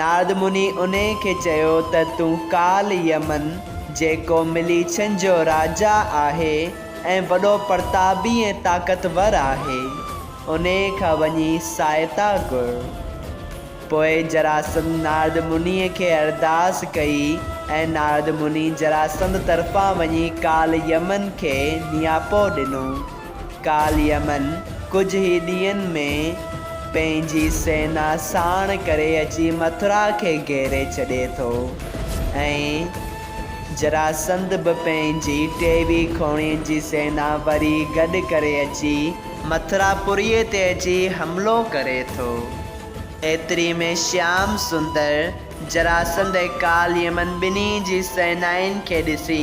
نارد مني انهيء کي چيو ته تون ڪال يمن، جيڪو مليڇن جو راجا آهي ۽ وڏو پرتابي ۽ طاقتور آهي، انهيء کان وڃي سهائتا گهر. پوء جراسنڌ نارد منيء کي ارداس ڪئي ۽ نارد مني جراسنڌ طرفان وڃي ڪال يمن کي نياپو ڏنو. ڪالهه يمن ڪجهه ئي ڏينهن ۾ پنهنجي سينا ساڻ ڪري اچي مٿرا کي گهيري ڇڏي ٿو ۽ جراسنڌ به پنهنجي ٽيوي کوڻين جي سينا وري گڏ ڪري اچي مٿرا پوريء تي اچي حملو ڪري ٿو. ايتري ۾ شيام سندر جراسنڌ ۽ ڪالهه يمن ٻنهي جي سينائن کي ڏسي.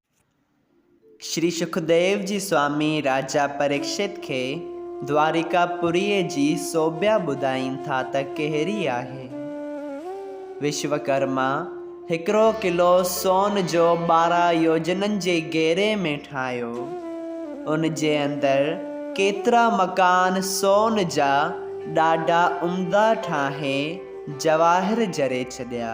شري سکديو جي سوامي راجا پريڪشت کي دواريڪا پوريء جي سوڀيا ٻڌائين ٿا ته ڪهڙي آهي. وشوڪرما هڪڙو قلعو سون جو ٻارهن يوجنن جي گهيري ۾ ٺاهيو. ان جي اندر ڪيترا مڪان سون جا ڏاڍا عمدا ٺاهي جواهر جڙي ڇڏيا.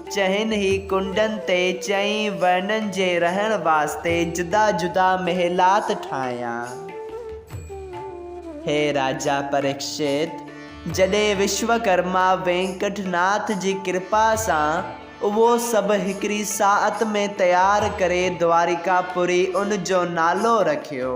چئن هي ڪنڊن تي چئين ورنن جي رهڻ واسطي جدا جدا محلات ٺاهيا. هي راجا پريڪشت جڏهن وشوڪرما وينڪٽ ناٿ جي ڪرپا سان اهو سڀ هڪڙي ساعت ۾ تيار ڪري دواريڪا پوري ان جو نالو رکيو.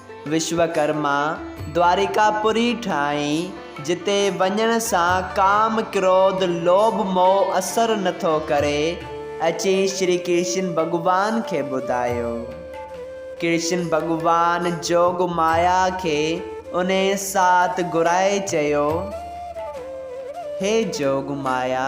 وشوڪرما دواريڪاپوري ٺاهي، جتي وڃڻ سان ڪام، ڪروڌ، لوڀ، موهه اثر نه ٿو ڪري، اچي شري ڪرشن ڀڳوان کي ٻڌايو. ڪرشن ڀڳوان جوگ مايا کي انهيء ساعت گهرائي چيو، هي جوگ مايا!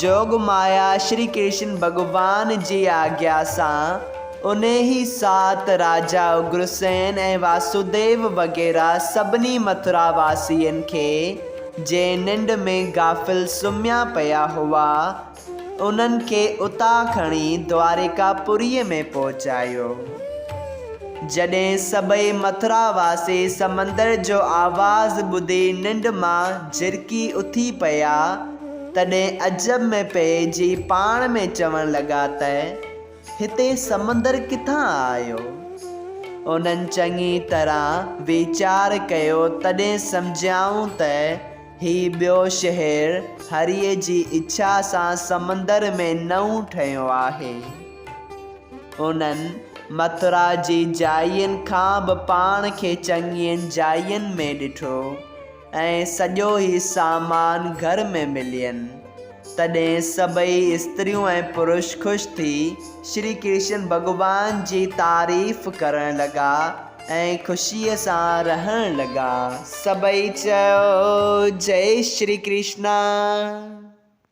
جوڳ مايا شري ڪرشن ڀڳوان جي آگيا سان انهيء ساعت راجا اگرسين ۽ واسوديو وغيره سڀني مٿرا واسين کي، جي ننڊ ۾ غافل سمهيا پيا هئا، انهن کي اتان کڻي دواريڪا پوريء ۾ پهچايو. جڏهن سڀئي مٿرا واسي سمندر جو آواز ٻڌي ننڊ مان جرڪي اٿي پيا، تڏهن عجب ۾ پئجي پاڻ ۾ چوڻ لڳا ته، هتي سمندر ڪٿان آيو؟ انهن چڱي طرح ويچار ڪيو تڏهن سمجهيائون ته هي ٻيو شهر هريء جي اڇا سان سمندر ۾ نئون ٺهيو آهي. انهن مٿرا جي جاين کان به پاڻ کي چڱين جاين ۾ ڏٺو. ۽ سڄو هي سامان گهر ۾ ملين، تڏهن سڀئي استريون ۽ پرش خوش ٿي شري ڪرشن ڀڳوان جي تعريف ڪرڻ لڳا ۽ خوشيء سان رهڻ لڳا. سڀئي چيو، جئي شري ڪرشنا!